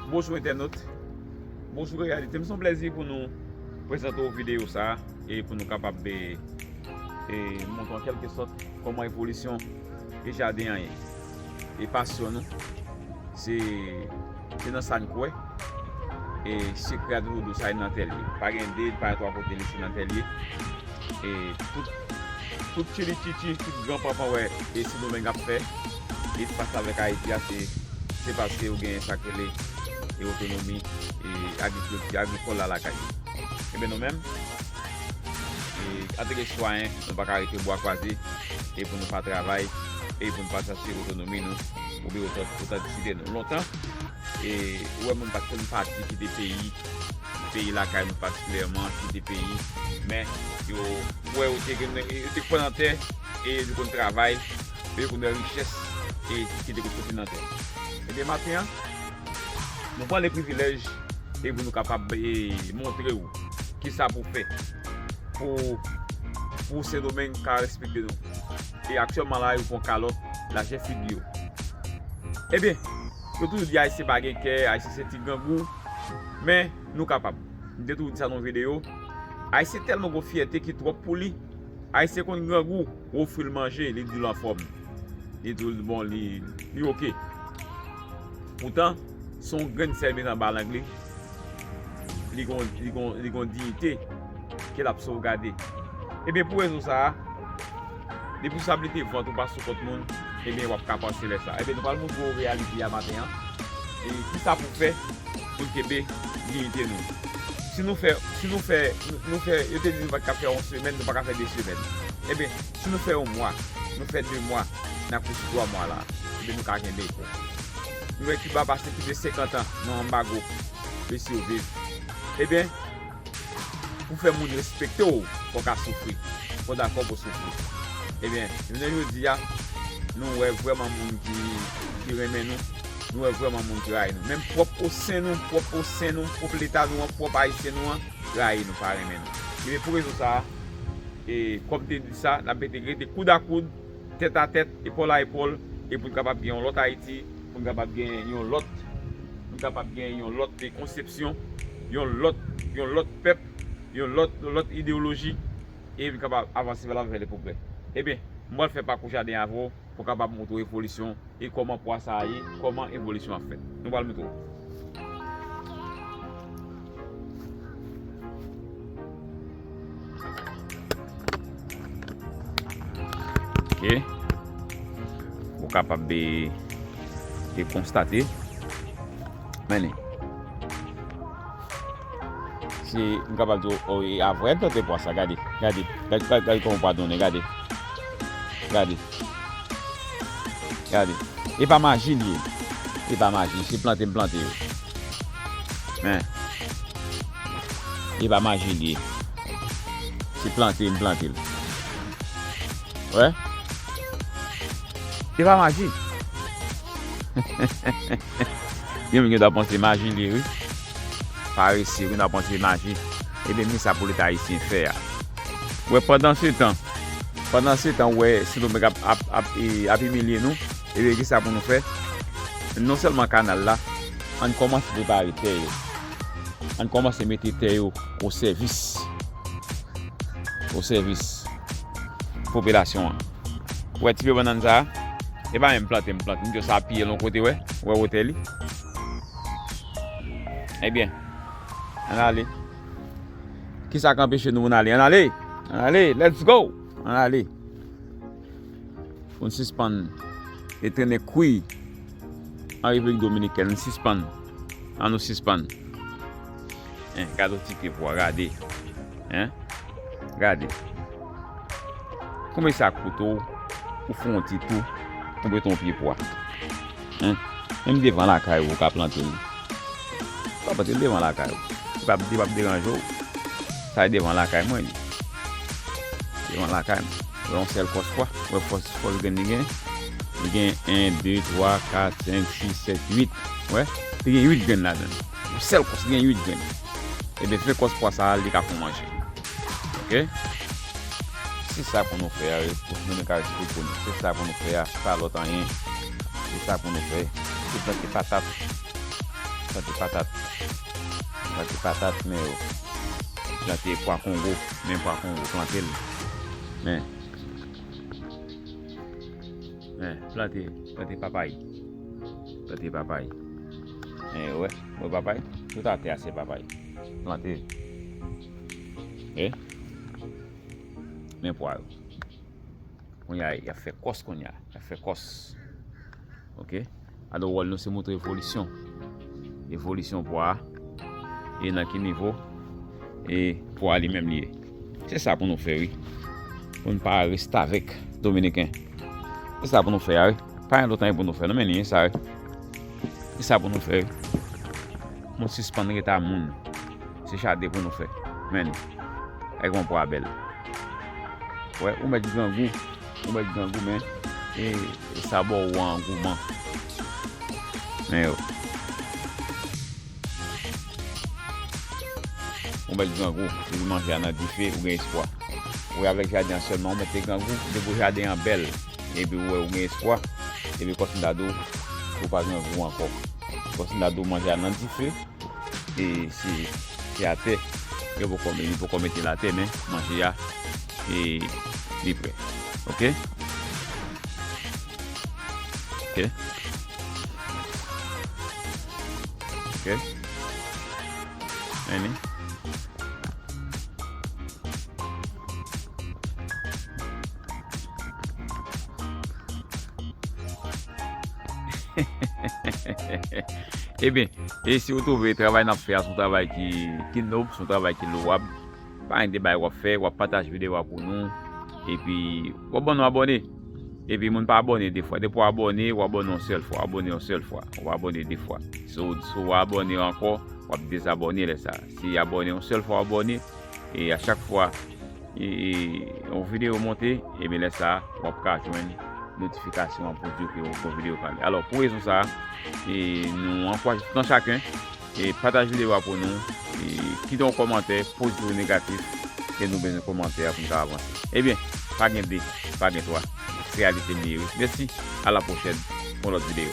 Bonjou entènot, bonjou reyalite. M son plezi pou nou prezante ou videyo sa e pou nou kapab be e moun an kelke sot koman evolisyon e jaden an ye. E pasyon nou se Se nan sa n kwè. E sekrè a toujou dou sa li nan tè l ye. Pa gen 2, pa gen 3 kote li se nan tè l ye. E tout tout tchilitchichi, tout gran panpan wè e sendomeng ap fè espas la avèk ayiti a se se paske yo gen sa k rele e otonomi e agrikilti agrikòl la lakay yo. Enben nou menm e antanke sitwayen nou pa ka rete bwa kwaze e pou nou pa travay e pou nou pa chache otonomi nou. oubyen yo ta ou ta diside nou lontan e ou wè moun pat konn pati kite peyi peyi lakay nou patikilyèman kite peyi men yo wè yo te gen yo te kwè nan tè e yo konn travay e yo konn wè richès e ki te konpote nan tè ebyen maten an nou pran le privilèj e pou nou kapab e montre ou kisa pou fè pou pou sendomeng ka respekte nou. E aktyèlman la yo pran kalòt lajè figi yo. Ebyen, yo toujou di Ayisyen pa gen kè, Ayisyen se ti grangou. Men, nou kapab. M te toujou di sa nan yon videyo. Ayisyen tèlman gen yon fyète ki twòp pou li. Ayisyen konn grangou. Ou ofri l manje, li di w l anfòm. Li di w l bon, li oke. Poutan, se yon grenn sèl met anba lang li. li gon diyite ke l ap sovgade. Ebyen pou rezon sa a, depi sa blite vant ou pa sou kont moun, ebyen w ap ka panse lè sa a. Ebyen nou pral montre w reyalite a maten an, e ki sa pou fè pou n kenbe diyite nou. Si nou fè, si nou fè, nou fè, yo te di nou pa t ka fè yon semèn, nou pa ka fè 2 semèn. Ebyen, si nou fè yon mwa, nou fè 2 mwa, nan kouti 3 mwa la, ebyen nou ka kenbe. Nou wè Kiba pase plis de 50 an nan anbago e siviv. Ebyen, pou fè moun respekte w, fò w ka soufri. Fò w dakò pou w soufri. Ebyen, jounen jodi a, nou wè vrèman moun ki renmen nou, nou wè vrèman moun ki rayi nou. Menm pwòp osen nou, pwòp osen nou, pwòp leta nou an, pwòp Ayisyen nou an, rayi nou, pa renmen nou. Ebyen, pou rezon sa a, e kòm m te di sa, n ap mete rete koud a koud. tèt a tèt, epòl a epòl e pou n kapab gen yon lòt Ayiti, pou n kapab gen yon lòt, pou n kapab gen yon lòt konsepsyon, yon lòt, yon lòt pèp, yon lòt, yon lòt ideyoloji e pou n kapab avanse vè lav e vè leprogrè. Ebyen, m pral fè pakou jaden avè w pou kapab montre w evolisyon. e kòman pwa sa a ye, kòman evolisyon an fèt. Nou pral montre w. Ou kapab de konstate. Meni. Se m kapab di w e a vrè plante pwa sa gade. Gade. Gade kòman pwa donnen gade. Gade. Gade. E pa maji li ye. E pa maji. Se plante m plante yo. Men. E pa maji li ye. Se plante m plante l. Wè. E pa maji. Yon moun gen ta panse maji li ye wi. Parese wi nap antre naje ebyen kisa pou leta ayisyen fè a wè pandan se tan pandan se tan wè sidomeng ap ap imilye nou ebyen kisa pou nou fè non sèlman kanal la ann kòmanse prepare tè yo ann kòmanse mete tè yo o sèvis o sèvis popilasyon an wè ti pye bannann sa e pa menm plante m plante m jis apiye l on kote wè wè wotè li. Ebyen, ann ale. Kisa k anpeche nou pou n ale? Ann ale! Ann ale! Let's go! Ann ale! Pou n sispann e trennen kwi an Repiblik Dominikèn. Ann sispann! Ann nou sispann! Hein, gade yon ti pye pwa, gade! Hein! Gade! Konbe sa koute w pou fon yon ti tou pou mete yon pye pwa? Hein Menm devan lakay ou ou ka plante li Ou ka plante li devan lakay ou Li pap li pap deranje w Sa e devan lakay mwen li Devan lakay m Wè yon sèl kòs pwa Ou wè kòs kòs grenn li gen Li gen 1, 2, 3, 4, 5, 6, 7, 8 Ou wè Li gen 8 grenn ladan l Yon sèl kòs li gen 8 grenn Ebyen se kòs pwa sa a li ka fon manje Ok Se sa pou nou fè a Pou nou ka respekte nou Se sa pou nou fè a Pa lòt anyen Se sa pou nou fè Se plante patat Plante patat Plante patat men yo Plante pwa kongo Men pwa kongo plante l Men Men plante Plante papay Plante papay Men yo wè Wè papay Tout atè a se papay Plante Eh. Men pwa yo. Konya y ap fè kòs konya. Y ap fè kòs. Ok. Alo wòl nou se moutre evolisyon. Evolisyon pwa. E nan ki nivo. E pwa li menm li ye. Se sa pou nou fè wi. Pou nou pa restavèk dominiken. Se sa pou nou fè a wi. Pa yon lotan yon pou nou fè. Nou men ni yon sa wi. Se sa pou nou fè wi. Moun sispan reta moun. Se chate pou nou fè. Men li. Èk yon pwa bèl. Wè, ou mèt grangou. Ou mèt grangou men. E sa bo ou an gouman. Men yo. Ou mèt grangou. Ou yon manje anan dife. Ou gen espwa. Wè avèk jaden an sèlman ou mèt te grangou. De pou jaden an bèl. E pi ou wè ou gen espwa. E pi kòsin dadou. Ou pa grangou ankò. Kòsin dadou manje anan dife. e se se atè yo poko yo poko metel atè men manje ya e li prè ok ok ok men ni Ebyen, e si ou twouve travay n ap fè a son travay ki nob, son travay ki louwab, pa enite bay w ap fè, w ap pataje videyo a pou nou, epi w ap ban nou abòne. Epi moun pa abòne de fwa. Depi w abòne, w abòne yon sèl fwa. Abòne yon sèl fwa. Ou pa abòne de fwa. Si w abòne ankò, w ap dezabòne lè sa. Si abòne yon sèl fwa w abòne, e a chak fwa. e yon video monte ebyen lè sa wap ka jwenn notifikasyon an pou diw ke yon video pale alò pou rezon sa e nou ankouraje tout yon chakun e pataje video a pou nou e kite yon komantè pozitif ou negatif ke nou bezwen komantè pou nou ka avanse ebyen pa gen 2 pa gen 3 se reyalite nou ye wi mèsi a la pwochèn pou yon lòt video.